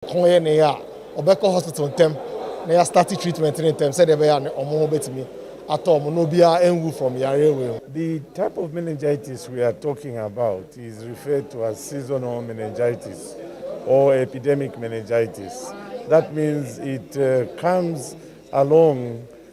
kɔn yɛ ne ya a, wɔbɛkɔ hospital ntɛm na yɛastarte treatment no ntɛm sɛdeɛ ɛbɛyɛ a ne wɔn ho bɛtumi atɔ wɔn na obiara anwu from yareɛ wei ho. The type of meningitis we are talking about is referred to as seasonal meningitis or epidemic meningitis, that means it comes along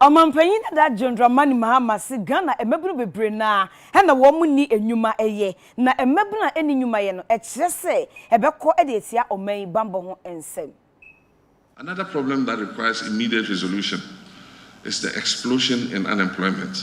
Ɔmampanyin dada John Dramani Mahama se Ghana mmabun bebree no ara na wɔn nni nnwuma yɛ, na mmabun a ɛnni nnwuma yɛ no ɛkyerɛ sɛ ɛbɛkɔ de atia ɔman yi banbɔ ho nsɛm. Another problem that requires immediate resolution is the explosion in unemployment.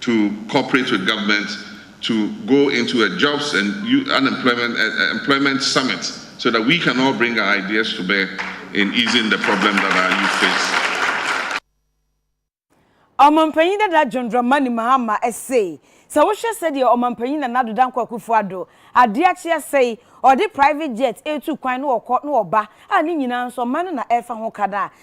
to cooperate with government to go into a jobs and youth unemployment eh, eh, employment summit so that we can all bring our ideas to bear in easing the problem that our youth face. Ɔmampanyin dada John Dramani Mahama se sɛ wohwɛ sɛdeɛ ɔmampanyin Nana Addo Dankwa Akufo-Addo adeɛ akye asɛ yi, ɔde private jet retu kwan na ɔkɔ na ɔba a ne nyinaa nso ɔman no na ɛrefa ho ka no a,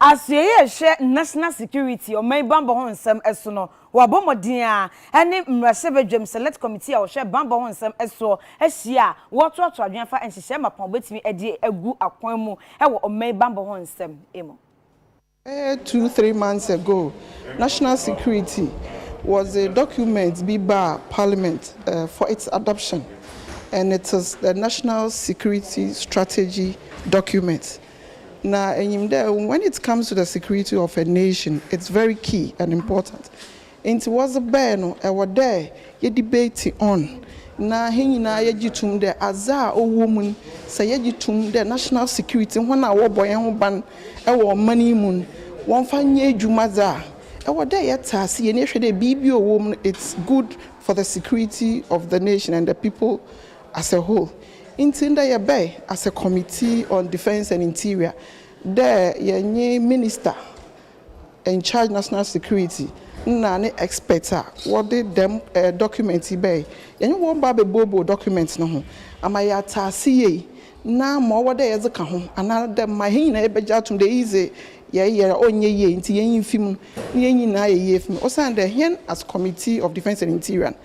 Asoɛe a ɛhwɛ National Security, Ɔman Bammɔ ho Nsɛm, so no, wɔabɔ mmɔden ara, ɛne Mmarahyɛbadwam Select Committee a wɔhwɛ Bammɔ ho Nsɛm soɔ ahyia a wɔretoato adwene afa nhyehyɛe mapɔn a wɔbɛtumi de agu akwan mu wɔ Ɔman Bammɔ ho Nsɛm mu. Bɛyɛ two, three months ago, National Security wɔdze document bi baa Parliament for its adoption and it is the National Security Strategy document. Na enyim dɛ when it comes to the security of a nation it's very key and important ntsi wɔdze bae no ɔwɔ dɛ yɛ debate on na hɛn nyina yɛgye to mu dɛ adze a ɔwɔ mu no sɛ yɛgye to mu dɛ national security hɔn a wɔbɔ hɛnho ban wɔ ɔman yi mu no wɔmfa nyɛ edwuma dze a ɔwɔ dɛ yɛtse ase yɛn ehwɛ dɛ biribi a ɔwɔ mu no it's good for the security of the nation and the people as a whole. Ntsi ndɛ yɛbɛe as a Committee on Defence and Interior dɛ yɛnye Minister in charge National Security na ne experts a wɔdze dɛm document yi bae, yɛnye hɔn ba abɛbuobue document no ho ama yɛatse ase yie na ma ɔwɔ dɛ yɛdze ka ho anaa dɛ ma hɛn nyina yɛbɛgye ato mu dɛ iyi dze yɛreyɛ a ɔnnyɛ yie ntsi yenyi mfi mu na yɛnye nyina ayɛ yie efi mu osiandɛ hɛn as Committee of Defence and Interior no,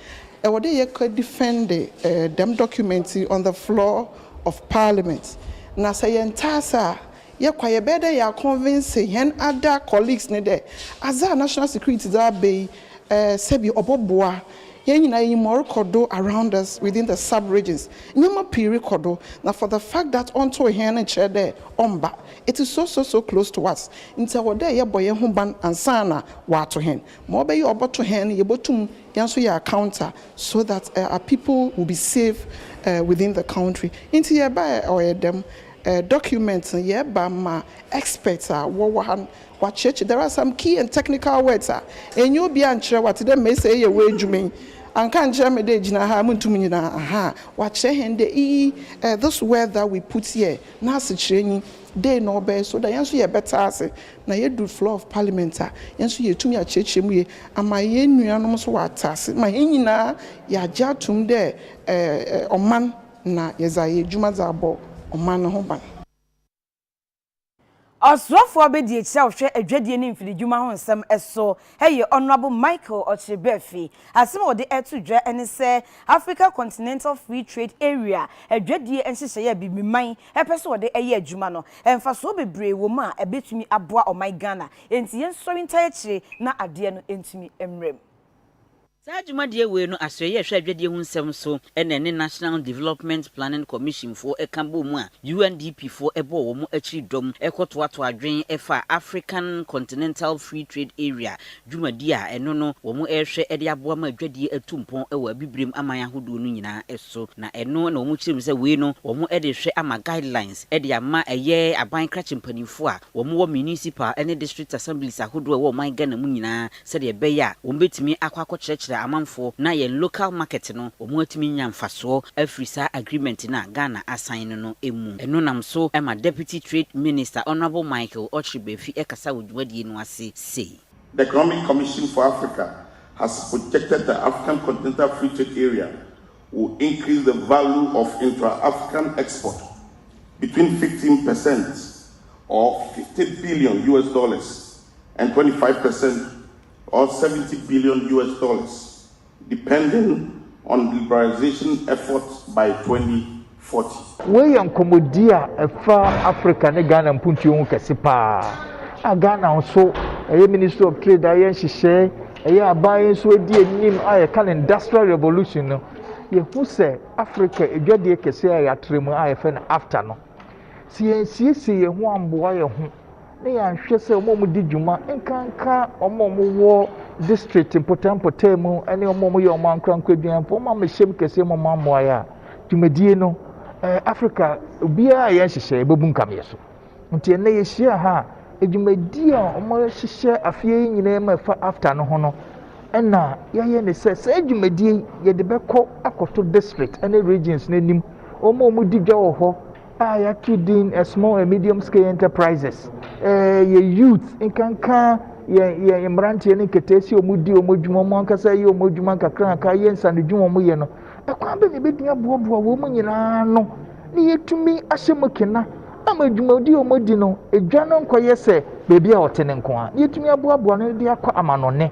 Ewɔ dɛ yɛkɔ defende dɛm document yi on the floor of parliament. Na sɛ yɛnntse ase a, yɛkɔ a yɛbɛyɛ dɛ yɛaconvince hɛn other colleagues no dɛ adze a national security dze aba yi sɛbi ɔbɔboa hɛn nyina. Iyi ma ɔrokɔ do around us within the sub regions. Ndzɛmba pii rokɔ do na for the fact that ɔnntoo hɛn no nnkyerɛ dɛ ɔmmba. It is so so so close to us ntsi ɔwɔ dɛ yɛbɔ hɛnho ban ansaana wɔato hɛn. Ma ɔbɛyɛ a ɔbɔto hɛn no yebotum Yɛn nso yɛ accounter so that our people will be safe within the country nti yɛ baɛ ɔyɛ dɛm document no yɛ ba ma experts a wɔ wɔ ha no wa kyerɛkyerɛ there are some key and technical words a ɛnyɛ obi a nkyerɛ wa te dɛ mɛ sɛ yɛ wɔ adwuma yi anka nkyerɛ mɛ dɛ gyina ha mo ntum nyina aha wa kyerɛ hɛn dɛ iyi this word that we put here n'asekyerɛ nyi dei na ɔbɛyɛ so that yɛn nso yɛ bɛte ase Na yɛduru floor of parliament a, yɛn nso yɛtumi akyerɛkyerɛ mu yie ama yɛn nuanom nso wɔ ataase ma hɛn nyinaa yɛagye atom dɛ ɔman na yɛdze ayɛ edwuma dze abɔ ɔman no ho ban. Ɔsoafoɔ bɛdie kyerɛwhwɛ adwadie ne mfiridwuma ho nsɛm so Ɛyɛ Honourable Michael Ɔkyere-Bɛɛfi. Asɛm a ɔde reto dwa ne sɛ Africa Continental Free Trade Area adwadie nhyehyɛeɛ a Bibiman pɛ sɛ ɔde yɛ adwuma no, mfasoɔ bebree wɔ mu a ɛbɛtumi aboa ɔman Ghana. Enti yɛnsɔre ntae akyire na adeɛ no ntumi mmram. Saa dwumadie wei no Asoɛeɛ ɛhwɛ adwadie ho nsɛm so ɛna ɛne National Development Planning Commission foɔ ɛka bɔɔ mu a UNDP foɔ ɛbɔɔ wɔn akyiri dɔm ɛkɔ toatoa adwen ɛfa African Continental Free Trade Area dwumadie a ɛno no wɔn ɛrehwɛ ɛde aboa ma adwadie atu mpɔn ɛwɔ Abibirem aman ahodoɔ no nyinaa so na ɛno na wɔn kyerɛm sɛ wei no wɔn ɛde rehwɛ ama guidelines ɛde ama ɛyɛ aban krakye mpaninfoɔ a wɔn wɔ Municipal ɛne District Assemblies ahodoɔ ɛwɔ ɔman Ghana mu nyinaa sɛdeɛ ɛbɛyɛ a wɔn bɛtumi akɔ akɔkyerɛkyerɛ amanfoɔ na yɛn local market no wɔn atumi anya mfasoɔ afiri saa agreement no a Ghana asan no no mu. Ɛno nam so ma Deputy Trade Minister Honourable Michael Ochre Bafi kasa wɔ dwumadie no ase sei. The Economic Commission for Africa has projected that African Continental Free Trade Area will increase the value of intra-African export between fifteen percent or fifty billion US dollars and twenty five per cent or seventy billion US dollars depending on liberalization efforts by twenty forty. Wei yɛ nkɔmmɔdie a ɛfa Africa ne Ghana mpuntuo ho kɛse paa a Ghana nso ɛyɛ Ministry of Trade a ɛyɛ nhyehyɛe ɛyɛ aban yi nso adi anim a yɛka no Industrial Revolution no yɛhu sɛ Africa adwadie kɛse a yɛatrɛ mu a yɛfɛ no AFTA no sɛ yɛnsiesie yɛn ho amboa yɛn ho na yɛanhwɛ sɛ wɔn a wɔdi dwuma nkanka wɔn a wɔwɔ district mpɔtampɔtaa mu ne wɔn a wɔyɛ wɔn ankorankoro aduanfo wɔn a wɔahyɛm kɛseɛ mu wɔn ammoa yɛ a dwumadie no ɛɛ africa obiara yɛ nhyehyɛ ɛbɛbu nkameɛ so nti ɛnna yɛhyia ha a dwumadie a wɔahyehyɛ afeɛ yi nyinaa mu ɛfa after no ho no ɛnna yɛayɛ ne sɛ saa dwumadie yɛde bɛkɔ akɔto district ne regions no anim wɔn a wɔdi dwa wɔ hɔ a yɛato din small and medium scale enterprises yɛ youth nkanka yɛn yɛn mmeranteɛ ne nketeesi a wɔdi wɔn adwuma wɔn ankasa yɛ wɔn adwuma nkakranka yɛ nsanodwuma wɔn yɛ no ɛkwan bɛ na ebɛtumi aboaboa wɔn nyinaa no ne yɛtumi ahyɛ mu kena ama adwumadi a wɔn di no edwa no nkɔyɛ sɛ beebi a ɔte ne nko a yɛtumi aboaboa no de akɔ amanɔne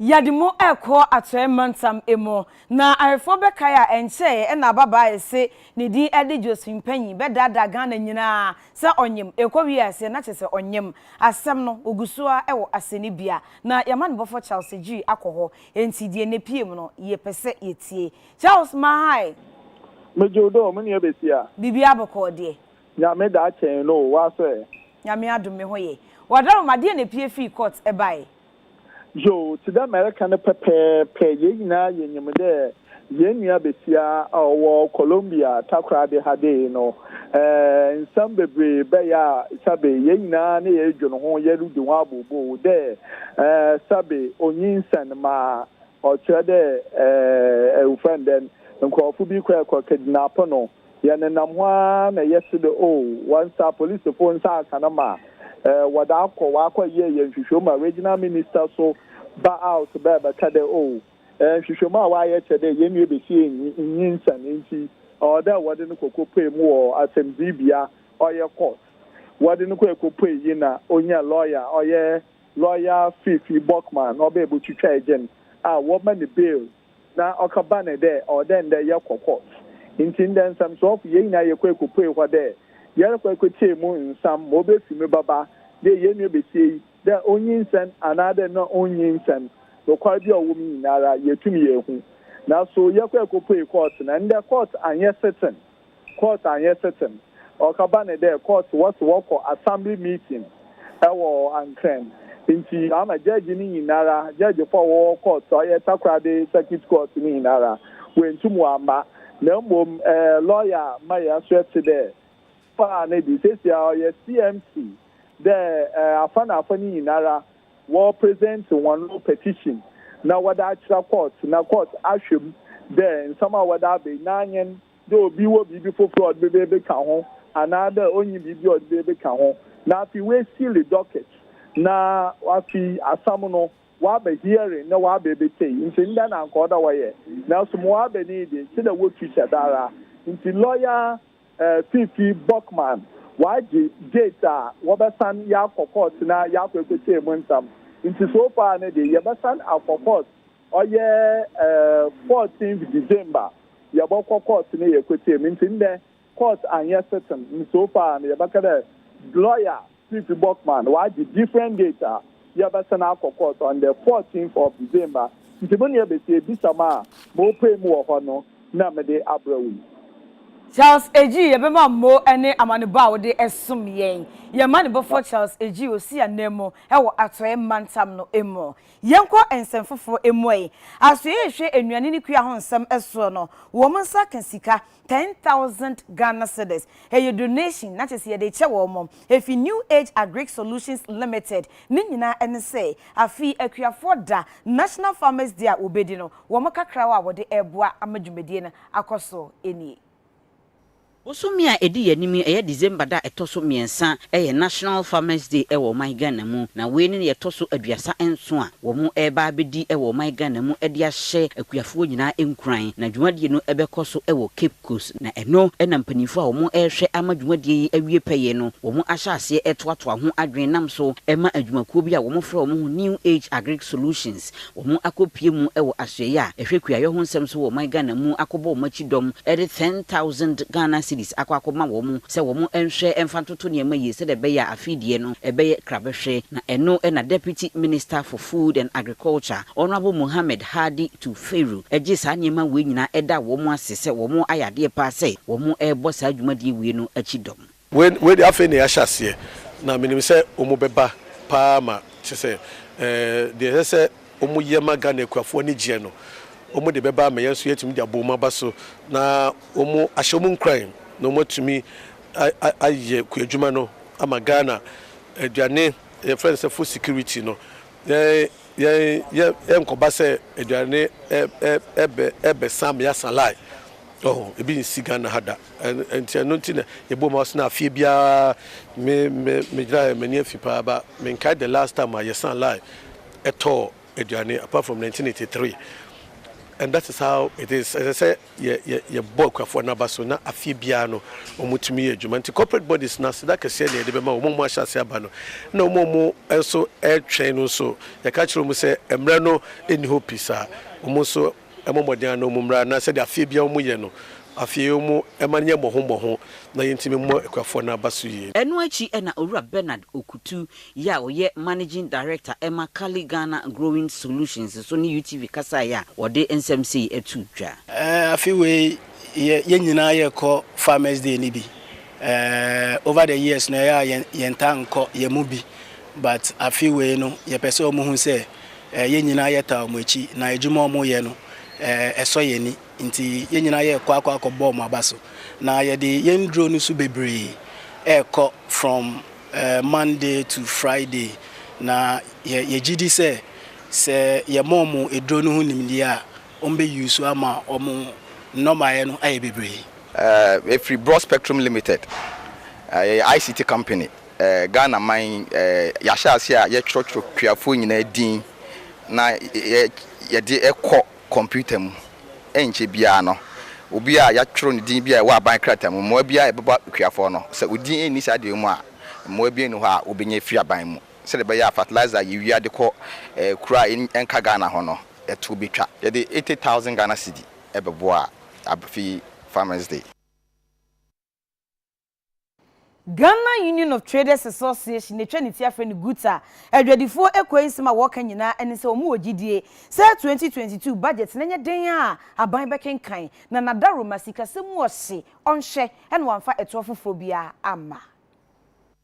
Yɛde mo rekɔ Atɔɛ mantam mu. Na Awefoɔ bɛkae a ɛnkyɛɛ ɛna ababaa a ɛse ne din ɛde Josephine Panyi bɛdaadaa Ghana nyinaa sɛ ɔnyem. Ɛkɔwie a ɛseɛ na kyesɛ ɔnyem. Asɛm no ɔguso ara ɛwɔ asɛnnibea. Na y'amanebɔfoɔ Charles Agyiri akɔ hɔ. Enti deɛ na ɛpue mu no yɛpɛsɛ yɛtie. Charles Mahae! Megye wo dɔ o, me nua Besia. Biribiara bɔkɔɔ deɛ? Nyame daa kyɛn no o, w'aso ɛ? Nyame adom me ho ye. Wadaroma, deɛ na ɛpue firi court ɛbaeɛ? Yoo, tse dɛ mereka no pɛpɛɛpɛ, hɛn nyina yenyim dɛ hɛn nua basia a ɔwɔ Colombia takoradi ha de yi no, nsɛm beberee bɛyɛ a sabe hɛn nyina na yɛrodwen ho, yerudzi ho abooboo dɛ sabe onyinsɛn ma ɔkyerɛ dɛ, wofrɛ no dɛn, nkorɔfo bi kɔe kɔkednape no. Yɛnenam hɔ ara na ɛyɛ hye de oh, wɔnsa apolisifo nsa aka no ma eh, wɔde akɔ wɔakɔ yɛ yɛ nhwehwɛmu ma regional minister so ba out bɛ bɛka dɛ oh, eh, nhwehwɛmu a wɔayɛ kyerɛ dɛ yɛn nua besia enyi nyinsɛn nti ɔwɔ dɛ wɔde no kɔkɔpue mu wɔ asɛmdzibea ɔyɛ court wɔde no kɔ ɛkɔpue yi na onya lawyer ɔyɛ lawyer Fifi Bockman ɔbɛ botwitwa ɛgyen a wɔma no bail Na ɔkã baanee dɛ, Ɔwɔ dɛ ndɛ yɛkɔ court. Ntsi ndɛ nsɛmserɛwfo, hɛn nyina yɛkɔe kopuee hɔ dɛ yɛrokɔ ekotsie mu nsɛm ma obefi me baba, dɛ hɛn nua basia yi, dɛ onyinsɛn anaadɛ nna onnyinsɛn, nokwar bi a ɔwɔ mu nyinara, yeetum yeehu. Naaso yɛkɔe kopuee court, na ndɛ court annyɛ sitting. Court annyɛ sitting. Ɔkaba ne dɛ court wɔ se wɔkɔ assembly meeting wɔ Ankrɛn ntsi ɔama judge ne nyinara, judge fo a wɔwɔ court a ɔyɛ Takoradi Circuit Court ne nyinara woenntum wɔamma na mbom lawyer Maya so etse dɛ ɔfaa ne de. Sesei ara ɔyɛ CMC dɛ afa na afa ne nyinara wɔ present hɔn petition na wɔdze akyerɛ court na court ahwɛ mu dɛ nsɛm a wɔdze aba yi n'anyen dɛ obi wɔ biribi fofor a ɔdze bebekã ho anaa dɛ onnyi biribi a ɔdze bebekã ho na afei woesiili docket na afei asɛm no wɔaba hearing na wɔaba ebetsie ntsi ndɛ na anka ɔwɔ dɛ wɔyɛ naaso ma ɔaba no yi dze kyerɛ dɛ wotu hyɛ da araa ntsi lɔya Fifi Bockmann waagye Gates a wɔbɛsan yɛakɔ court na yɛakɔ ɛkɔkyɛɛ mu nsam nti so far no de yɛbɛsan akɔ court ɔyɛ 14th December yɛbɔkɔ court na yɛkɔkyɛɛ mu nti ndɛ court anyɛ sitting nti so far no yɛbɛka dɛ lawyer Chief Bockman wagye different date a yɛbɛsan akɔ court on the fourteenth of December nti mo nea bɛsi abisam a morepae mu wɔ hɔ no na mede abrɛ wo yi. Charles Agyi, Yɛbɛma mmo ne amanebɔ a wode som yɛn. Yɛn mmanebɔfoɔ Charles Agyi ɔsi ananmu wɔ Atɔeɛ mantam no mu. Yɛnkɔ nsɛm foforɔ mu ɛ. Asoeɛ rehwɛ nnuane ne kua ho nsɛm soɔ no, wɔn nsa ka sika Ten thousand Ghana cedis, ɛyɛ donation na kyerɛ sɛ yɛde rekyɛ wɔn, ɛfiri New Age Agric Solutions Limited, ne nyinaa ne sɛ, afei Akuafoɔ da, National Farmers Day a wɔbɛdi no, wɔn kakra a wɔde reboa ama dwumadie no akɔ so nie. Bosome a ɛdi yɛn anim yi, ɛyɛ December da a ɛtɔ so mmiɛnsa, ɛyɛ National Farmers Day wɔ ɔman Ghana mu, na wei ne deɛ ɛtɔ so aduasa nson a, Wɔreba abɛdi wɔ ɔman Ghana mu de ahyɛ akuafoɔ nyinaa nkuran. Na dwumadie no bɛkɔ so wɔ Cape Coast. Na ɛno na mpanimfoɔ a wɔrehwɛ ama dwumadie yi awie pɛyɛ no, wɔahyɛ aseɛ toatoa ho adwene nam so ma adwumakuo bi a wɔfrɛ wɔn ho New Age Agric Solutions, wɔakɔpue mu wɔ asoɛeɛ a ɛhwɛ kuayɔ ho nsɛm so wɔ ɔman Ghana mu akɔbɔ wɔn akyi dɔm de ten thousand Ghana cedis akɔ akɔma wɔn sɛ wɔnhwɛ mfa ntoto to nneɛma yie sɛdeɛ ɛbɛyɛ a afei deɛ no ɛbɛyɛ krabɛhwɛ na ɛno na Deputy Minister for Food and Agriculture, Honourable Mohammed Hadi Tufeiru gye saa nneɛma wei nyinaa da wɔn ase sɛ wɔn ayɛ adeɛ paa sɛ wɔn rebɔ saa dwumadie wei no akyi dɔm. Wei wei deɛ afei na yɛahyɛ aseɛ na menim sɛ wɔn bɛba paa ma kyɛ sɛ ɛɛ deɛ ɛsɛ sɛ wɔn yɛ ma Ghana akuafoɔ ani gyeɛ no, wɔn de bɛba ama yɛn nso yɛatumi de abɔ wɔn aba so na wɔn ahyɛ wɔn nkuran na wɔn atumi ayɛ kuadwuma no ama Ghana aduane yɛfrɛ no sɛ food security no yɛn yɛn yɛnkɔba sɛ aduane ɛbɛ ɛbɛ sam yasa lai ɔho ebi nsi Ghana ha da nti ɛno nti na yɛbɔ wɔn ase na afie biara me me megyina yɛ m'ani afi paa ba menkae the last time a yɛsan lai ɛtɔɔ aduane apart from nineteen eighty three and that is how it is ɛsɛ sɛ yɛ yɛ yɛbɔ akuafoɔ no aba so na afie biara no wɔn tumi yɛ adwuma nti corporate bodies no aseda kɛseɛ na yɛde bɛma wɔn a wɔn ahyɛ ase aba no na wɔn a wɔn nso ɛretwɛn no nso yɛka kyerɛ wɔn sɛ mmerɛ no nni hɔ pi saa wɔn nso mmɔ mmɔden a na wɔn mmara na sɛdeɛ afeɛ biara wɔn yɛ no, afeɛ yi wɔn mma no nyɛ mmɔho mmɔho na yɛntumi mmɔ akuafoɔ no aba so yie. Ɛno akyi na Owura Bernard Okutu yi a ɔyɛ Managing Director ma Kali Ghana Growing Solutions nso ne UTV kasaeɛ a wɔde nsɛm sei to dwa. Afe wei yɛ yɛn nyinaa yɛkɔ farmers day no bi over the years no ɛyɛ a yɛn yɛntaa nkɔ yɛn mu bi but afe wei no yɛpɛ sɛ wɔn hu sɛ Yɛn nyinaa yɛtaa wɔn akyi, na adwuma a wɔyɛ no, ɛsɔ yɛn ani. Enti yɛn nyinaa yɛrekɔ akɔ akɔbɔ wɔn aba so. Na yɛde yɛn nnuro no nso bebree rekɔ from Monday to Friday. Na yɛgye di sɛ, sɛ yɛma wɔn aduro no ho nimdeɛ a, wɔbɛ use ama wɔn nnɔbaeɛ no ayɛ bebree. Yɛfiri Broad Spectrum Limited, yɛyɛ ICT company. Ghana man yi, yɛahyɛ aseɛ a yɛtwerɛtwerɛ kuafoɔ nyinaa din na yɛde kɔ kɔmputa mu. Ɛnkyɛ biara no, obi a yɛatwerɛ ne din bi a ɛwɔ aban krataa mu, mmoa biara a ɛbɛba kuafoɔ no, sɛ odin nni saa deɛ yi mu a, mmoa biara nni hɔ a wɔbɛnya afiri aban mu. Sɛdeɛ ɛbɛyɛ a fertilizer a yɛwia de kɔ kuro a ɛnka Ghana ho no, ɛtoɔ bɛtwa. Yɛde eighty thousand Ghana cedi bɛboa Afi Farmers Day. Ghana Union of Traders Association na etwa ne ti afrɛ no GUTA. Adwadifoɔ ekuo yi nsɛm a wɔka nyinaa ɛne sɛ wɔn wɔ gyidie sɛ 2022 budget no nyɛ den a aban bɛkenkan na n'adaroma sikasɛm mu ɔhye ɔnhyɛ na wamfa ɛtoɔ foforɔ biara amma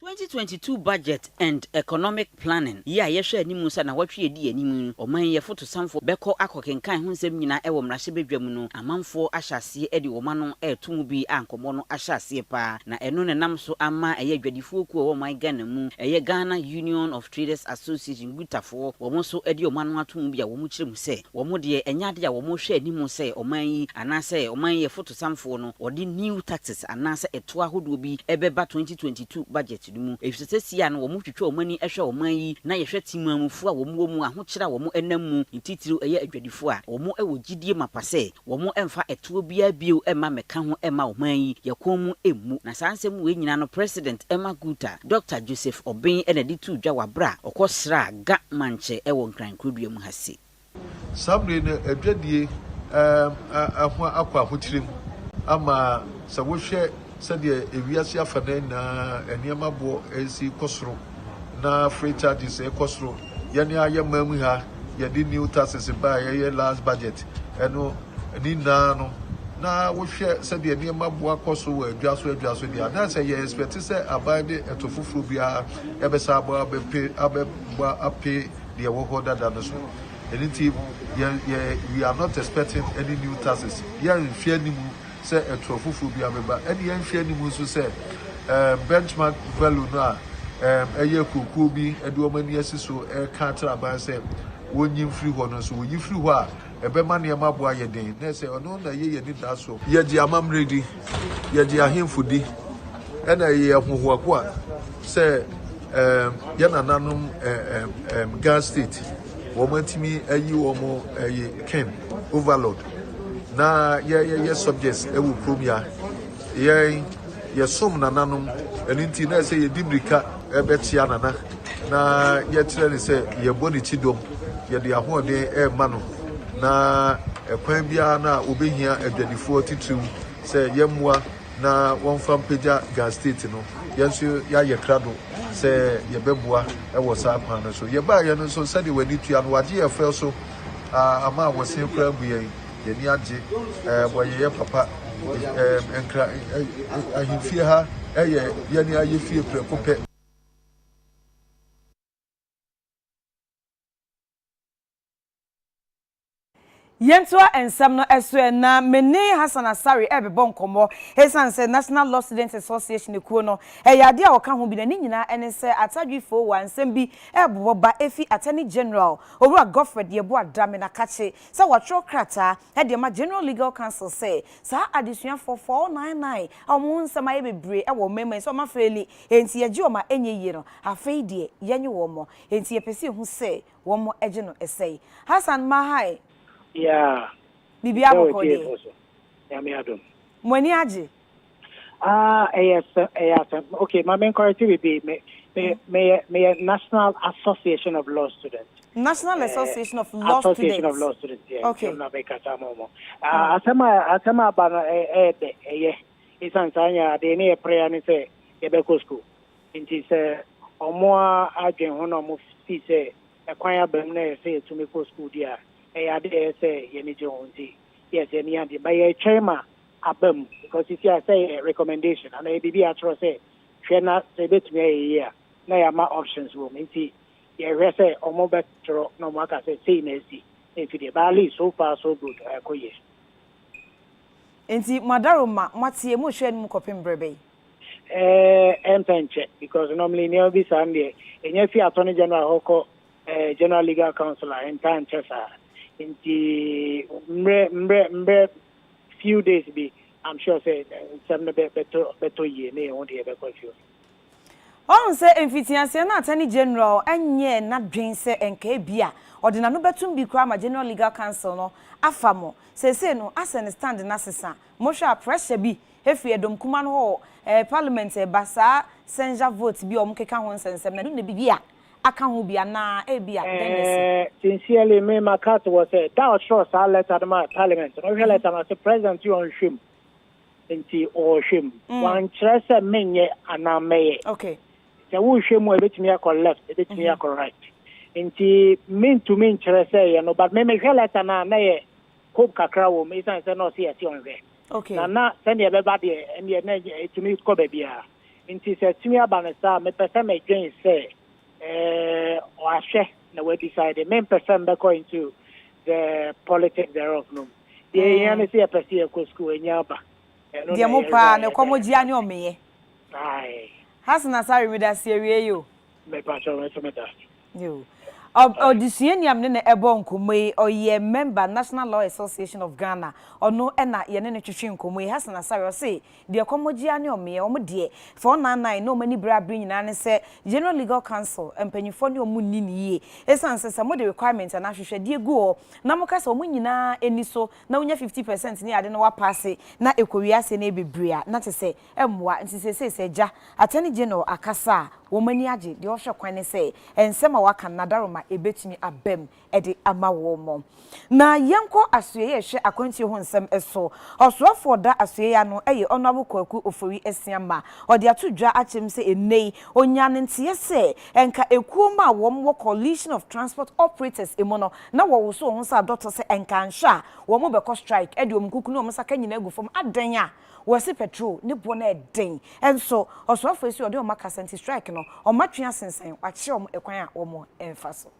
2022 budget and economic Planning, Yɛ a yɛhwɛ anim sɛ anawɔtwe a edi anim yi, ɔman yi afotusanfo bɛkɔ akɔkenkan ho nsɛm nyinaa wɔ mmarahyɛbadwam no, amanfoɔ ahyɛ aseɛ de wɔn ano reto mu bi a nkɔmmɔ no ahyɛ aseɛ paa, na ɛno na ɛnam so ama ɛyɛ adwadifoɔ kuo a ɛwɔ ɔman Ghana mu, ɛyɛ Ghana Union of Traders Association, GUTA, foɔ, wɔn nso de wɔn ano ato mu bi a wɔkyerɛ mu sɛ, wɔn deɛ ɛnyɛ adeɛ a wɔhwɛ anim sɛ ɔman yi anaasɛ ɔman yi afotusanfoɔ no wɔde new taxes anaasɛ ɛtoɔ ahodoɔ bi bɛba 2022 budget. no mu, efisɛ sesia no wɔn twitwa wɔn ani hwɛ ɔman yi na yɛhwɛ temanmufo a wɔn wɔ mu, ahokyere a wɔn nam mu, ne titiriw ɛyɛ adwadifo a wɔn wɔ gyidie mapa sɛ wɔn mfa ɛtoɔ biara bio mma mmɛka ho mma ɔman yi, yɛ kɔn mu mmu. Na saa nsɛm wei nyinaa no President Emma Guta, Dɔkta Joseph Obeng na ɛde too dwa wɔ aberɛ a ɔkɔ sraa Ga mankyɛ wɔ Nkran Nkrodua mu ha sei. Saa bere yi no, adwadie ho akɔ ahokyerem ama sɛ wohwɛ sɛdeɛ wiase afanan nyinaa nneɛma boɔ resi kɔ soro na freight charges rekɔ soro. Yɛn ara yɛn man mu ha, yɛde new taxes baeɛ, ɛyɛ last budget no, ne nyinaa no, na wohwɛ sɛdeɛ nneɛma boɔ akɔ so wɔ adwa so adwa so deɛ a, na sɛ yɛ expect sɛ aban de ɛto foforɔ biara ɛbɛsa abɔ abɛpe abɛbɔ ape deɛ ɛwɔ hɔ dada no so. Ɛno nti yɛn yɛ we are not expecting any new taxes. Yɛnhwɛ anim sɛ ɛtorɔ foforɔ bi abɛba. Ɛne yɛnhwɛ anim nso sɛ um, benchmark value no a um, ɛyɛ kuokuo bi de wɔn ani asi so ɛreka akyerɛ aban sɛ wɔnyi mfiri hɔ no nso wɔyi firi hɔ a ɛbɛma nneɛma bo ayɛ den, na ɛsɛ ɔno na ɛyɛ yɛn anidaso. Yɛgye amammerɛ di, yɛgye ahemfo di, ɛna ɛyɛ yɛn ahohoahoa sɛ ɛɛm, yɛn nananom ɛɛm, ɛɛm, Ghana State, wɔatumi ayi wɔn ɛyɛ King, Overlord, na yɛ, yɛyɛ subjects wɔ kurom ya. Yɛn, yɛsom nananom, ɛno nti na ɛsɛ yɛdi mmirika. bɛkyea Nana na yɛkyerɛ no sɛ yɛbɔ ne kyidɔm, yɛde ahoɔden rema no, na ɛkwan biara no a wobɛhia adwadifoɔ titiriw sɛ yɛmmoa na wɔmfa mpagya Ghana State no, yɛn nso yɛayɛ krado sɛ yɛbɛboa wɔ saa kwan no so. Yɛbaeɛ no nso, sɛdeɛ w'ani tua no, wɔagye yɛn frɛ so ama a wɔsen koraa abu yɛn. yɛn ani agye. Ɛɛ mo ayeyɛ papa. Ɛɛ nkra ahemfie ha ɛyɛ yɛn ayɛ fie prɛko pɛ. Yɛntoa nsɛm no so ɛ. Ná me ne Hassan Asare rebɛbɔ nkɔmmɔ. Esiane sɛ National Law Students Association kuo no yɛ adeɛ a wɔka ho bi na ne nyinaa ne sɛ Atadwe Fowa nsɛm bi rebobɔ ba fi Attorney General, Owura Godfred Yeboah Dramena Kakye, sɛ wɔatwerɛ krataa de ama General Legal Council sɛ saa adesuafoɔ 499 a wɔn ho nsɛm ayɛ bebree wɔ ɔman mu yi sɛ wɔn afei li enti yɛgye wɔn a ɛnyɛ yie no afei deɛ yɛnye wɔn enti yɛpɛ sɛ yɛhu sɛ wɔn gye no sɛn Hassan Mahai, Biribiara bɔkɔɔ deɛ? Mo ani agye? Ah, ɛyɛ sɛ ɛyɛ asɛm. Okay, ma me encourage biribi. Me me meyɛ meyɛ National Association of Law Students. National Eh, Association of Law Association of Students. Law Students, yeah, Okay. nti na mekasa ma ɔmo. Ah, Mm. asɛm a asɛm a aba no ɛ- ɛyɛ dɛ, ɛyɛ. Esiane saa nyinaa deɛ ne yɛ prayer ne sɛ yɛbɛkɔ school. Nti sɛ ɔmo a adwen ho na ɔmo si sɛ ɛkwan aba mu na ɛyɛ sɛ yɛtumi kɔ school deɛ a, ɛyɛ ade a ɛyɛ sɛ yɛn ani gye ho nti, yes, yɛn ani agye. But yɛretwɛn ma aba mu because sisi a sɛ yɛ recommendation anaa yɛ biribi a yɛatwerɛ sɛ hwɛ na sɛ ebetumi ayɛ yie a na yɛama options wɔ mu nti yɛhwɛ sɛ wɔn bɛtwerɛ na wɔn aka sɛ sei na asi na efi deɛ but at least so far so good ɛkɔ yie. Nti mo adaro ma mo ateɛ mo rehwɛ anim kɔpem berɛ bɛn? Ɛɛɛ ɛmpɛ nkyɛ because normally nneɛma bi saa no deɛ ɛnya fi Attorney General hɔ kɔ ɛɛ General Legal Council a ɛntaa nkyɛ saa nti mmerɛ mmerɛ mmerɛ few days bi I'm sure sɛ nsɛm no bɛ bɛtɔ bɛtɔ yie ne yɛn ho deɛ bɛkɔ akyire. Wahu sɛ mfitiaseɛ no Attorney General nyɛɛ n'adwene sɛ nka ebia ɔde n'ano bɛtom bi koraa ma General Legal Council no afa mo. Seesei no asɛ ne stand no asesa. Mohwɛ a pressure bi firi ɛdɔm kumaa no hɔ o, ɛɛ Parliament ɛɛba saa censure vote bi a wɔkeka ho nsɛnsɛm no ɛno na ɛbɛyɛ a aka ho bi anaa ebia dɛn na asi? Eh, sincerely me ma cut wɔ sɛ da ɔkyerɛw saa letter no maa parliament no wohwɛ letter no ase president yɛ ɔnhwɛ mu nti ɔhwɛ mu mm. wankyerɛ sɛ menyɛ anaa mɛyɛ okay sɛ wohwɛ mu a ebetumi akɔ left ebetumi mm-hmm. akɔ right nti mentumi nkyerɛ sɛ yɛ no but me mehwɛ letter no a na yɛ hope kakra wɔ mu ɛsiane sɛ na ɔse yɛse ɔnhwɛ okay na na sɛdeɛ ɛbɛba deɛ ɛneɛ na ɛtumi kɔ baabiara Enti sɛ tumi aba no saa a, mepɛ sɛ medwen sɛ, eh, ɔahwɛ na wadecide. Mempɛ sɛ mebɛkɔ into the politics thereof no mu. Deɛ ɛhia ne sɛ yɛpɛ sɛ yɛkɔ sukuu, anya aba. Ɛno Deɛ na mo paa, yɛhwɛ a mekɔ mo yɛbɛyɛ. gyea ne ɔmeyɛ. Ae. Hasan Asare, medase awiei o. Mepa kyɛw, me nso medase. Yiw. Odesuani a me ne no rebɔ nkɔmmɔ yi, ɔyɛ mɛmba National Law Association of Ghana. Ɔno na yɛne no twetwe nkɔmmɔ yi. Hassan Asare, ɔse deɛ kɔmmɔgye ara ne ɔmeɛ. Wɔn deɛ, fa wɔn nnan nnan na wɔn ani bere a bere nyinaa ne sɛ General Legal Council mpanyimfoɔ ne wɔn nni no yie. Esiane sɛ, sɛ mode requirement anaa ahwehwɛdeɛ gu hɔ na moka sɛ wɔn nyinaa nni so na wonya fifty percent ne ade na wɔapaase na ɛkɔwie aseɛ na ɛyɛ bebree a, na kyerɛ sɛ mmoa. Nti seesei sɛ Agya, Attorney General, akasa a, wɔn ani agye. Deɛ wɔhwɛ kwan ne sɛ nsɛm a waka no n'adaroma ɛbɛtumi aba mu de ama wɔn. Na yɛnkɔ asoɛeɛ a ɛhwɛ akwantuo ho nsɛm so. Ɔsoafoɔ a ɔda asoɛeɛ ano yɛ Honourable Kwaku Ofori Asiamah. Ɔde ato dwa akyerɛ mu sɛ ɛnnɛ yi ɔnyaa ne nteɛ sɛ nka ekuom a wɔn wɔ Coalition of Transport Operators mu no na wɔwoso wɔn ho sɛ adɔtɔ sɛ nka anhwɛ a wɔn bɛkɔ strike de wɔn nkuku ne wɔn saka nyinaa agu fam adɛn a Wɔse petrol ne boɔ no yɛ den nso ɔsoafoɔ yi se ɔde wɔn akasa nti strike no wɔn atwe asensan wakyerɛ wɔn ɛkwan a wɔn mfa so.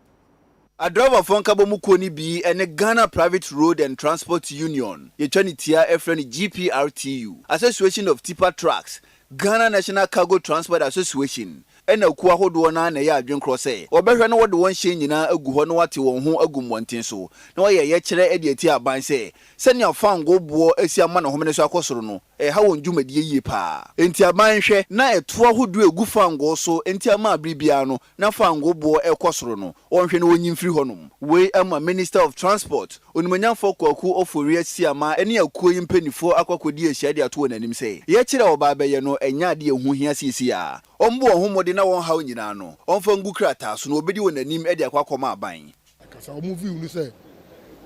Adriverfoɔ nkabɔmu kuo no bi ne Ghana Private Road and Transport Union, yɛtwa no tia frɛ no GPRTU, Association of Tipper Trucks, Ghana National Cargo Transport Association, Ɛna kuo ahodoɔ no ara na ɛyɛ adwene korɔ sɛ wɔbɛhwɛ na wɔde wɔn hyɛn nyinaa agu hɔ na wɔate wɔn ho agu mmɔnten so na wɔayɛ yɛkyerɛ de atia aban sɛ sɛnea fangoo boɔ asi ama ne homene so akɔ soro no reha wɔn dwumadie yie pa ara. Enti aban nhwɛ na ɛtoɔ ahodoɔ a ɛgu fangoo so nti ama bere biara no na fangoo boɔ rekɔ soro no wɔnhwɛ na wɔnyi mfiri hɔnom. Wei ama Minister of Transport, Onimonyamfoɔ Kwaku Ofori Asiamah ne akuo yi mpaninfoɔ akɔ akɔdi ahyia de ato wɔn anim sɛ yɛkyerɛ a wɔba abɛyɛ no ɛnyɛ adeɛ a ɛho hia seesei ara. Ɔmmɔ wɔn ho mmɔden na wɔn haw nyinaa no, ɔmfa ngu krataa so, na obedi wɔn anim de akɔ akɔma aban. Ɛkasa a wɔn view ne sɛ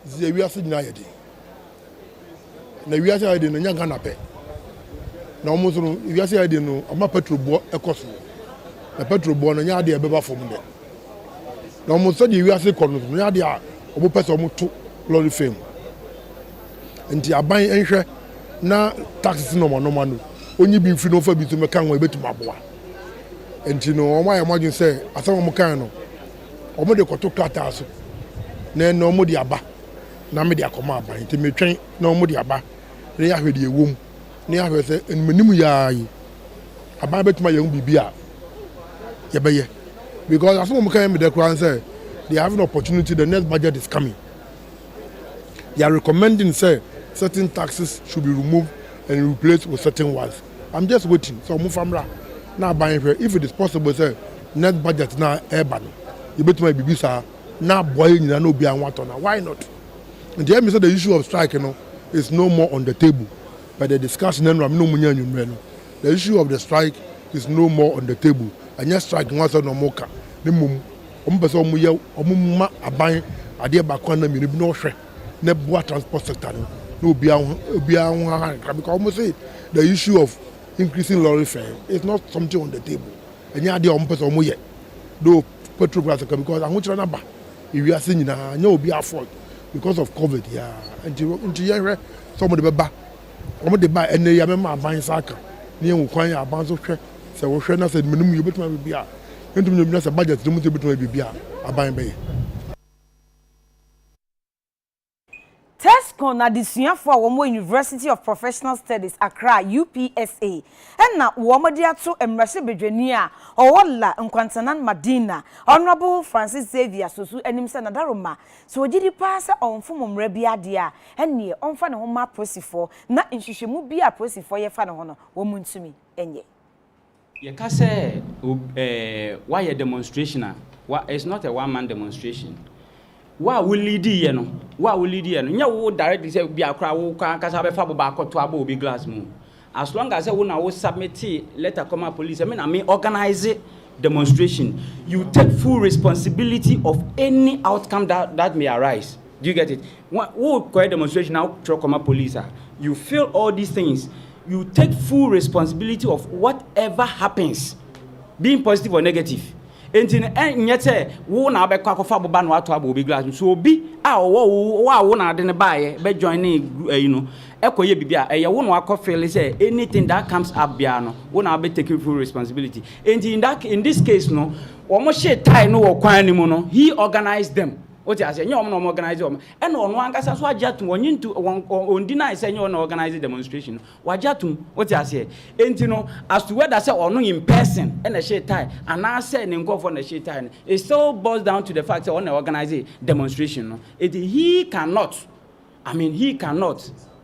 dzeɛ wiase nyinaa ayɛ den na wiase ayɛ den no nyɛ Ghana pɛ na wɔn nso no wiase ayɛ den no ama petrol boɔ ɛkɔ soro na petrol boɔ no nyɛ adeɛ a ɛbɛba fam dɛ na wɔn sɛdeɛ wiase kɔ no nso no nyɛ adeɛ a wɔn pɛ sɛ wɔn to lorry fam nti aban nhwɛ na tax si na wɔn anoma no onyi bi mfiri na ɔfa bi nso mɛka ho a ebetumi aboa nti no wɔn ayɛ wɔn adwene sɛ asɛm a wɔn kan no wɔn de kɔto krataa so na ɛnna wɔn de aba na mede akɔma aban nti metwɛn na wɔn de aba na yɛahwɛ deɛ ɛwɔ mu na yɛahwɛ sɛ ɛnumanim yaa yi aban betumi ayɛ ho biribi a yɛbɛyɛ because asɛm a wɔn kan yɛ meda koraa sɛ they have an opportunity the next budget is coming. they are recommending sɛ certain taxes should be removed and replaced with certain ones I'm just waiting sɛ wɔn fa mmra na aban hwɛ if it is possible sɛ next budget na ɛreba no yɛbɛtumi ayɛ biribi saa na aboa yɛ nyinaa na obiara ho atɔ na why not nti ɛmi sɛ the issue of strike no is no more on the table but the discussion ɛnura mi na wɔn nyɛ anwummerɛ no the issue of the strike is no more on the table ɛnyɛ strike ho asɛm na wɔn ka ne mmom. wɔpɛ sɛ wɔyɛ wɔn ma aban adeɛ baako anaa mmienu bi na wɔhwɛ na ɛboa transport sector no na obiara ho obiara ho haha kakra because wɔn say the issue of increasing lorry fare is not something on the table ɛnyɛ adeɛ a wɔpɛ sɛ wɔyɛ though petrol price kakra because ahokyerɛ no aba ewiase nyinaa nyɛ obiara fault because of covid yɛa nti nti yɛhwɛ sɛ wɔde bɛba wɔn de ba ɛnna yi abɛma aban nsa aka ne yɛn kwan yɛ aban so hwɛ sɛ wɔhwɛ na sɛ mmienu mu yɛbɛtumi abɛbi a Yɛntumi nyɛ obiara sɛ budget no mu nti yɛbɛtumi ayɛ biribi a aban bɛyɛ. Tescon adesuafo a wɔwɔ University of Professional Studies Accra, UPSA, na wɔde ato mmarahyɛbadwani a ɔwɔ La Nkwantanan Madina, Honourable Francis Xavier Sosu anim sɛ Nadaroma, sɛ ɔgye di paa sɛ ɔmfom mmara biara deɛ a, ɛnneɛ ɔmfa ne ho mma apolisifoɔ na nhwehwɛmu biara a apolisifoɔ yɛ fa ne ho no, wɔntumi nyɛ. Yɛka sɛ ob eh wayɛ demonstration a, wa it's not a one man demonstration. Wo a wo leadi yɛ no, wo a wo leadi yɛ no, nyɛ wo directly sɛ bi a koraa wo koraa ankasa wobɛfa aboba akɔto abɔ obi glass mu. As long as sɛ wo na wo submite letter kɔma police sɛ me na me organise demonstration, you take full responsibility of any outcome that that may arise. Do you get it? Wo kɔyɛ demonstration na wo twerɛ kɔma police a, you feel all these things, you take full responsibility of what ever happens, being positive or negative. Enti no ɛnyɛ sɛ wo na abɛkɔ akɔfa aboba na wato abɔ obi glass mu. So obi a ɔwɔ wo wo a wo na ade no baayɛ bɛ join ne ɛyi no ɛkɔyɛ biribi a ɛyɛ wo na wakɔ feel sɛ anything that comes up biara no wo na abɛ take full responsibility. Enti in that in this case no wɔn hyee tae no wɔ kwan no mu no he organized them. Wo te aseɛ? Nyɛ wɔn na wɔn organize wɔn. Ɛna ɔno ankasa nso agye atum. Ɔnye ntu, wɔn, ɔn deny sɛ nyɛ ɔno na organize demonstration no. Wagye atum. Wo te aseɛ? Enti no, as to whether sɛ ɔno in person na ɛhyee tie, anaasɛ ne nkorɔfoɔ na ɛhyee tie no, it still boils down to the fact sɛ ɔno na organize demonstration no. Enti he cannot, I mean, he cannot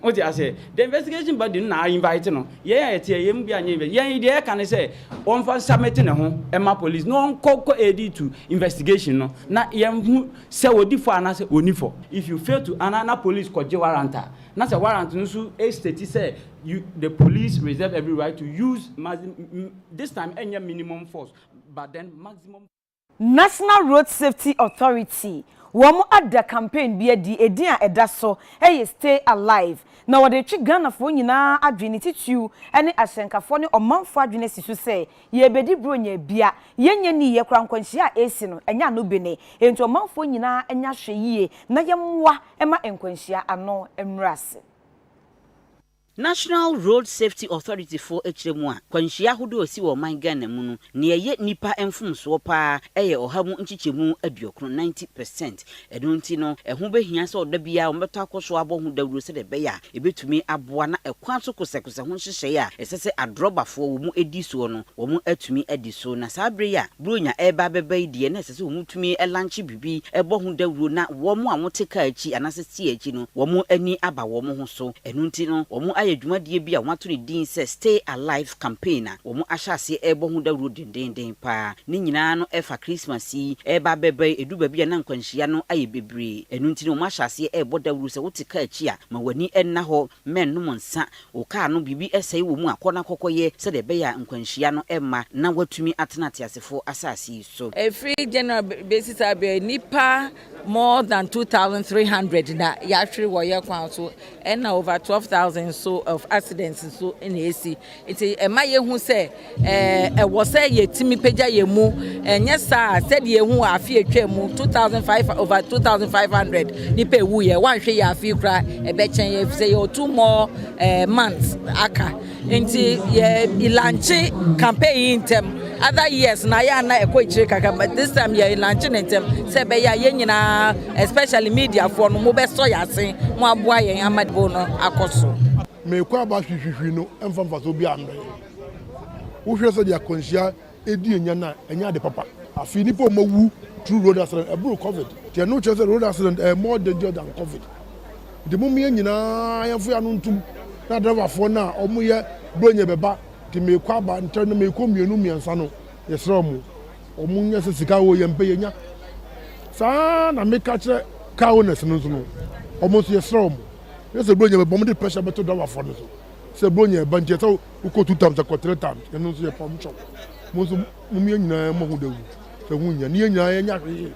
Wote aseɛ? The investigation body no na a invite no. Yɛn a yɛteɛ, yɛn mu biara nyɛ invest. Yɛn deɛ yɛka ne sɛ, ɔmfa nsubmit ne ho mma police na ɔnkɔ kɔ adi to investigation no na yɛnhu sɛ ɔdi fɔ anaasɛ ɔnni fɔ. If you fail to anaa na police kɔgye warrant a, na sɛ warrant no nso state sɛ you, the police reserve every right to use maxi, this time ɛnyɛ minimum force but then maximum force. National Road Safety Authority, wɔn ada campaign bi adi, edin a ɛda so yɛ Stay Alive, na wɔde retwe Ghanafoɔ nyinaa adwene, titiriw ne ahyɛnkafoɔ ne ɔmanfoɔ adwene asi so sɛ, yɛrebɛdi Buronya abia, yɛnyɛ ne yie koraa, nkwanhyia a ɛresi no, ɛnyɛ ano bene, enti ɔmanfoɔ nyinaa nyɛ ahwɛyie na yɛmmoa mma nkwanhyia ano mmrɛ ase. National Road Safety Authority foɔ kyerɛ mu a, kwanhyia ahodoɔ a ɛsi wɔ ɔman Ghana mu no, nea ɛyɛ nnipa mfomsoɔ pa ara yɛ ɔha mu nkyekyɛmu aduokron, ninety percent. Ɛno nti no, ɛho bɛhia sɛ ɔda biara wɔbɛtɔ akɔ so abɔ ho dawuro sɛdeɛ ɛbɛyɛ a ɛbɛtumi aboa na ɛkwan so kosɛkosɛ ho nhyehyɛeɛ a ɛsɛ sɛ adrɔbafoɔ wɔn di soɔ no wɔatumi adi so. Na saa berɛ yi a Buronya reba abɛba yi deɛ na ɛsɛ sɛ wɔtumi lankye bi bɔ ho dawuro na wɔn a wɔte kaa akyi anaasɛ steer akyi no, wɔn ani aba wɔn ho so. Ɛno nti no, wɔayɛ dwumadie bi a wɔato ne din sɛ Stay Alive Campaign a wɔahyɛ aseɛ rebɔ ho dawuro dendeenden pa ara. Ne nyinaa no ɛfa Christmas yi reba abɛba yi, ɛduru baabi a na nkwanhyia no ayɛ bebree. Ɛno nti no wɔahyɛ aseɛ rebɔ dawuro sɛ wote kaa akyi a, ma w'ani nna hɔ, mmɛnnom nsa, Wo kar no biribi sɛe wɔ mu a, kɔ na kɔkɔyɛ sɛdeɛ ɛbɛyɛ a nkwanhyia no remma na woatumi atena ateasefoɔ asase yi so. Ɛfiri January bɛsi saa berɛ yi, nnipa more than two thousand three hundred na yɛahwere wɔ yɛn kwan so, ɛnna over twelve thousand nso of accidents nso na ɛresi. Nti ɛma yɛhu sɛ Ɛwɔ sɛ yetumi pagya yɛn mu, ɛnyɛ saa a, sɛdeɛ yɛahu wɔ afe a atwam mu, 2005 over 2500 nnipa ɛwuiɛ, woanhwɛ yɛ afe yi koraa ɛbɛkyɛn yɛn, efisɛ yɛwɔ two more eh, months aka. Nti yɛ ilankye campaign yi ntɛm. Other years na yɛ ana ɛkɔ akyire kakra, but this time yɛ ilankye ne ntɛm sɛ ɛbɛyɛ a yɛn nyinaa, especially mediafoɔ no, mobɛsɔ yɛn ase, moaboa yɛn ama debate no akɔ so. Mekɔ aba hwihwihwi no mfa mfasoɔ biara mbrɛ yɛn. Wohwɛ sɛdeɛ akwanhyia ɛdi ɛnya no a, ɛnyɛ ade papa. Afei nnipa a wɔawu through road accident ɛboro covid. Nti ɛno kyerɛ sɛ road accident ɛyɛ more dangerous than covid. Nti mom yɛn nyinaa yɛmfa yɛn ano ntom na driver foɔ no a wɔyɛ bronyɛ bɛba nti meekɔ aba ntɛm na meekɔ mmienu mmiɛnsa no yɛsrɛ wɔn wɔn nyɛ sɛ sika oo yɛn pɛ yɛnya. Saa ara na meka kyerɛ car owners no nso no wɔn nso yɛsrɛ wɔn nyɛ sɛ bronyɛ bɛba wɔn de pressure bɛto driver foɔ no so. Sɛ Buronya ɛba nti ɛsɛ wokɔ two times akɔ three times ɛno nso yɛ pam kyɛw mo nso mo yɛn nyinaa mo ho dawuro sɛ ɛho nyia ne yɛn nyinaa yɛn nyɛ ahwee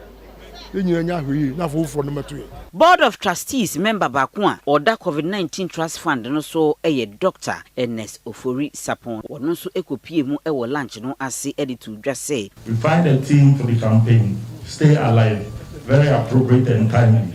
yɛn nyinaa nyɛ ahwee na afofoɔ no mɛto yɛn. Board of Trustees mɛmba baako a ɔda Covid nineteen Trust Fund no so yɛ Dɔkta Ernest Ofori Sapon. Ɔno nso kɔpuee mu wɔ lunch no ase de too dwa sɛ. We find a theme for the campaign, Stay Alive, very appropriate and timely.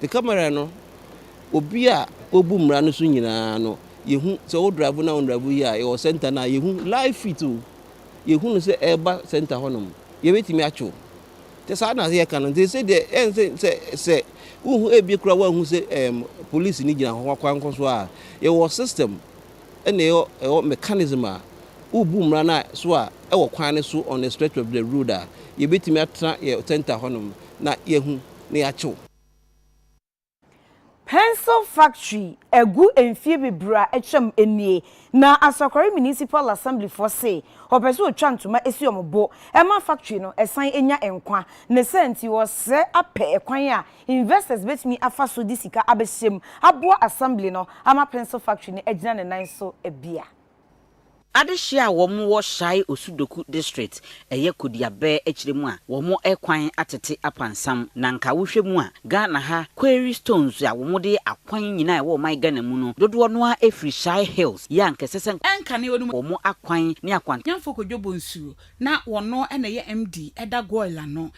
The camera no obi a obu mmara no so nyinaa no yɛhu sɛ wo drive na wo drive yi a yɛwɔ center no a yɛhu live fit o yɛhu no sɛ ɛreba center hɔnom yɛbɛtumi atwo sɛ saa na yɛka no nti sɛ deɛ ɛn sɛ sɛ sɛ wohu ebi kora woahu sɛ ɛm polisi no gyina hɔ akwan kɔ so a yɛwɔ system ɛna ɛwɔ ɛwɔ mechanism a wobu mmara no so a ɛwɔ kwan no so on the stretch of the road a yɛbɛtumi atena yɛ center hɔnom na yɛhu na yɛakye wo. Pencil factory agu mfie bebree a atwam nie na Asakware Municipal Assembly foɔ se wɔpɛ sɛ wɔtwa ntoma si wɔn bo ma factory no san nya nkwa. Ne saa nti wɔsrɛ apɛ kwan a investors bɛtumi afa so de sika abɛhyɛ mu aboa Assembly no ama Pencil factory no agyina ne nan so bia. Adehye a wɔn wɔ Shai Osudoku District, ɛyɛ Kodiabɛɛ akyire mu a wɔn kwan atete apansam na nka wohwɛ mu a Ghana ha quarry stones a wɔn de yɛ akwan nyinaa a ɛwɔ ɔman Ghana mu no dodoɔ no ara firi Shai Hills yɛ a nka ɛsɛ sɛ ɛnkane wɔn mu wɔn akwan ne akwankyɛnfoɔ kɔdwo bɔ nsuo na wɔn na ɛyɛ MD ɛda Goil ano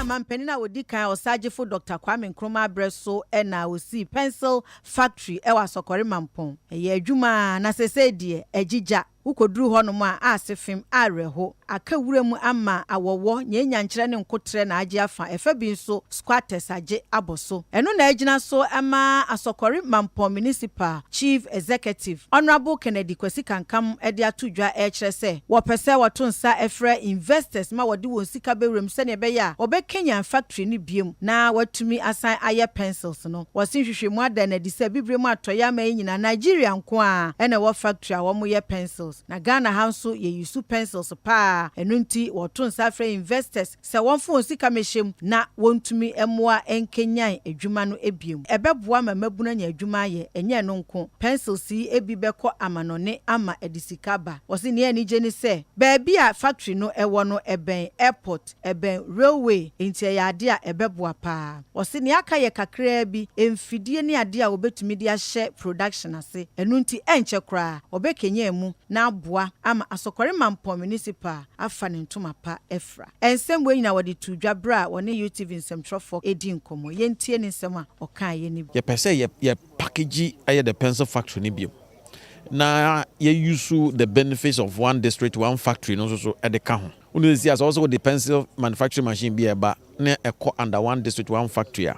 Ghana mampanin a ɔdi kan, Ɔsaagyefo Dɔkta Kwame Nkrumah berɛ so na ɔsii pencil factory wɔ Asɔkɔre Mampong. Ɛyɛɛ adwuma ara, na seesei deɛ, agye gya. Wokɔduru hɔnom a, aase fem, awerɛho. Aka wuram ama awɔwɔ, nyanyankyerɛ ne nkoterɛ na agye afa. Ɛfa bi nso, squatters agye abɔ so. Ɛno na agyina so ma Asɔkɔre Mampɔn Municipal Chief Executive, Honourable Kennedy Kwasi Kankam de ato dwa rekyerɛ sɛ wɔpɛ sɛ wɔto nsa frɛ investors ma wɔde wɔn sika bɛwura mu sɛdeɛ ɛbɛyɛ a wɔbɛkanyan factory no biom na wɔatumi asan ayɛ pencils no. Wɔse nhwehwɛmu ada no adi sɛ Abibire mu atɔeɛ aman yi nyinaa Nigeria nko ara na ɛwɔ factory a wɔyɛ pencils na Ghana ha nso yɛyi su pencils pa ara ɛno nti wɔreto nsa afrɛ investors sɛ wɔmfa wɔn sika mmɛhyɛ mu na wɔntumi mmoa nkanyan adwuma no bio. Ɛbɛboa ma mmabunu anya adwuma ayɛ. Ɛnyɛ ɛno nko, pencils yi bi bɛkɔ amanɔne ama ɛde sika aba. Wɔse nea anigye ne sɛ, baabi a factory no wɔ no ɛbɛn airport, ɛbɛn railway, enti ɛyɛ ade a ɛbɛboa paa. Wɔse nea aka yɛ kakraa bi, mfidie ne adeɛ a wɔbɛtumi de ahyɛ production ase. Ɛno nti, ɛnkyɛ koraa, wɔbɛkanyan mu na aboa ama Asokore Mampong Municipal afa ne ntoma pa afiri. Biafra. Nsɛm wei nyinaa wɔde too dwa berɛ a wɔne UTV nsɛmtwerɛfoɔ redi nkɔmmɔ. Yɛntie ne nsɛm a ɔkaeɛ no bi. Yɛpɛ sɛ yɛ yɛ package yɛ the pencil factory no bio na yɛ use the benefits of one district one factory no nso so de ka ho. Wo nim sɛ sisi a sɛ ɔwɔ sɛ wode pencil manufacturing machine bi a ɛba na ɛkɔ under one district one factory a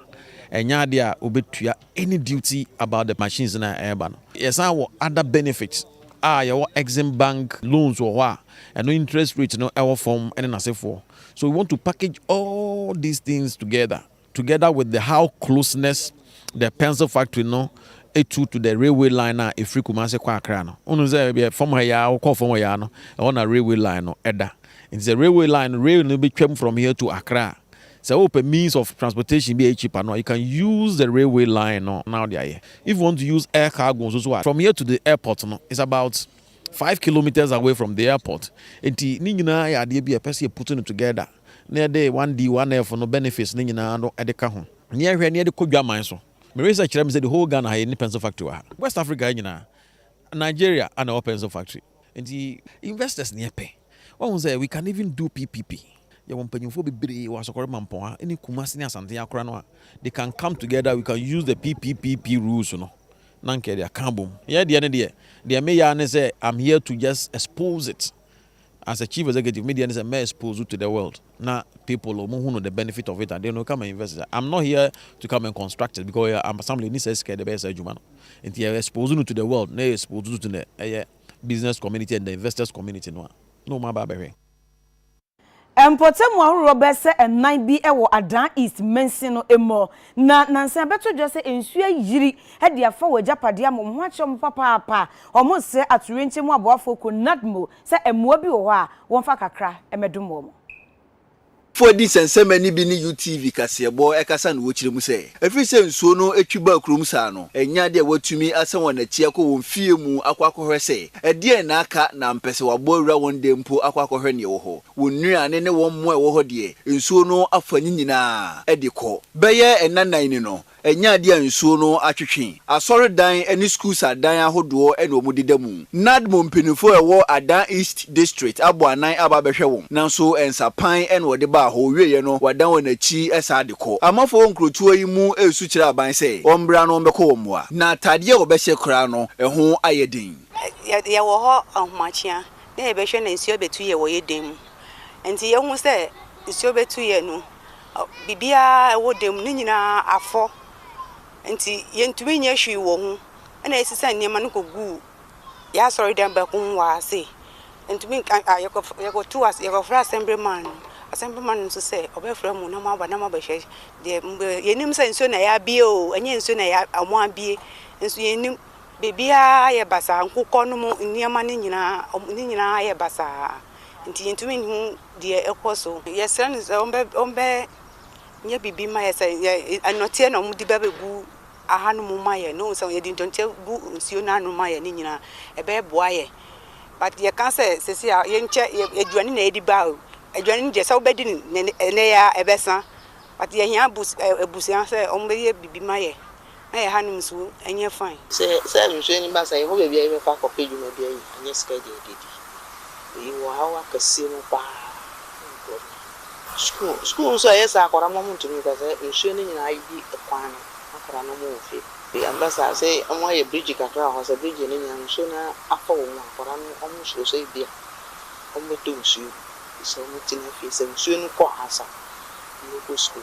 ɛnyɛ adeɛ a wobɛtua any duty about the machines no a ɛreba no. Yɛsan wɔ other benefits a yɛwɔ Exim Bank loans wɔ hɔ a ɛno interest rate no wɔ fam ne n'asefoɔ. So we want to package all these things together together with the how closeness the pencil factory no to to the railway line a ɛfiri Kumasi kɔ Accra no. Wonim sɛ bɛ fam ha yɛ a wokɔ fam hɔ yɛ a no ɛhɔ na railway line no ɛda. Nti sɛ railway line no rail no bɛtwam from here to Accra a Sɛ wopɛ means of transportation bi a ɛyɛ cheaper no, you can use the railway line no na wode ayɛ. If you want to use air cargo nso so a, from here to the airport no, it's about five kilometres away from the airport. Enti ne nyinaa yɛ adeɛ bi a ɛpɛ sɛ yɛ put no together na yɛde 1D, 1F no benefits no nyinaa no de ka ho. Na yɛhwɛ na yɛde kɔ dwaman so. Me research kyerɛ me sɛ the whole Ghana ha yɛnni pencil factory wɔ ha. West Africa ha nyinaa. Nigeria a na wɔpɛ nso factory nti investors na yɛpɛ wahu sɛ we can even do PPP yɛwɔ mpanyinfoɔ bebree wɔ Asɔkɔre Mampɔn ha ne Kumasi ne Asante akora no a they can come together we can use the PPPP rules no na nka yɛde aka abom yɛ deɛ ne deɛ deɛ meyɛ ne sɛ I'm here to just expose it as a chief executive me deɛ ne sɛ mɛ expose wo to the world na people ɔmo hu no the benefit of it and then no come and invest it I'm not here to come and construct it because I'm assembly ni sɛ sika de bɛyɛ saa adwuma no nti yɛ expose no to the world na yɛ expose no to the ɛyɛ business community and the investors community no a na ɔmo aba abɛhwɛ. Mpɔtamu ahoroɔ bɛyɛ sɛ nnan bi wɔ Adan East mansin no mu. Na nansa abɛto dwa sɛ nsu ayiri de afa wɔn agyapade ama wɔn ho akyerɛ wɔn papaapa a, wɔresrɛ atoyerɛnkyɛm mu aboafoɔ kuo NADMO sɛ mmoa bi wɔ hɔ a wɔmfa kakra mmɛdom wɔn. Foɔ di nsɛnsɛmma no bi ne UTV kaseɛbɔ kasa na wɔkyerɛ mu sɛ, ɛfiri sɛ nsuo no twi baa kurom saa no, ɛnnya deɛ wɔatumi asan wɔn akyi akɔ wɔn fie mu akɔ akɔhwɛ sɛ ɛdeɛn na aka na ampɛ sɛ wɔabɔ awura wɔn dan mpo akɔ akɔhwɛ deɛ ɛwɔ hɔ. Wɔn nnuane ne wɔn mmoa a ɛwɔ hɔ deɛ, nsuo no afa ne nyinaa de kɔ. Bɛyɛ nna nnan ni no, ɛnyɛ adeɛ a nsuo no atwetwe. Asɔredan ne Schools adan ahodoɔ na wɔdeda mu. Nadmo mpanimfoɔ a ɛwɔ Adan East District abɔ anan aba abɛhwɛ wɔn, nanso nsapan na wɔde baa hɔ, wɔwieeɛ no, wɔadan wɔn akyi san de kɔ. Amanfoɔ wɔ nkurotoɔ yi mu resu kyerɛ aban sɛ wɔmmra na wɔmmɛkɔ wɔn mmoa. Na atadeɛ a wɔbɛhyɛ koraa no, ɛho ayɛ den. Yɛwɔ hɔ ahomakyia, na yɛbɛhwɛ na nsuo abɛtu yɛ wɔ yɛn dan mu. Nti yɛhu sɛ nsuo bɛtu yɛ no, biribiara a ɛwɔ dan mu no nyinaa afɔ. Nti yɛntumi nyɛ hwee wɔ ho. Ɛna yɛsesa nneɛma no kɔguu yɛn asɔredan baako mu wɔ ase. Yɛntumi nka a yɛkɔfrɛ yɛkɔtoo ase yɛkɔfrɛɛ assembly man no. Assembly man no nso sɛ ɔbɛfrɛ mo na moaba na moabɛhwɛ deɛ mobɛyɛ. Yɛnnim sɛ nsuo na ɛyɛ abie o, ɛnyɛ nsuo na ɛyɛ wɔabie nso yɛnnim. Biribiara ayɛ basaa, nkokɔ no mu nneɛma no nyinaa, wɔn ne nyinaa ayɛ basaa, nti yɛntumi nhu deɛ ɛrekɔ so. Yɛsrɛ no sɛ wɔbɛ wɔbɛnyɛ biribi mma yɛn sɛ yɛ nnɔteɛ na wɔde bɛbɛgu ahanom ma yɛn, na wɔhu sɛ yɛde nnɔteɛ gu nsuo no ano ma yɛn ne nyinaa a, ɛbɛboa yɛn. But yɛka sɛ seesei a yɛnkyɛ yɛ aduane na yɛde ba o, aduane no deɛ sɛ wobɛdi no nnɛ nnɛ yi ara a, ɛbɛsa, but yɛhia abus ɛɛ abusua sɛ wɔbɛyɛ biribi ma yɛn. na yɛn hanom nso nyɛ fann. Sɛ saa nhwɛso yi ba saa a, yɛwɔ baabi a yɛbɛkɔ akɔpɛ dwumadua yi, anyɛ sika de adidi. Eyi wɔ haw akɛse mu pa ara ma nkurɔfo. Sukuu, sukuu nso ɛyɛ saa, akwadaa mma wɔntumi nkɔ saa nsuo no nyinaa ayiyi kwan no ma akwadaa no wɔn wɔ fie. Ɛba saa sɛ wɔayɛ bridge kakra wɔ hɔ, sɛ bridge no nyɛ a nsuo no atɔ wɔn a, akwadaa no wɔn suro sɛ ebi a wɔbɛtɔ nsuo mu, nti sɛ wɔtena fie, sɛ nsuo no kɔ ansa wɔbɛkɔ sukuu.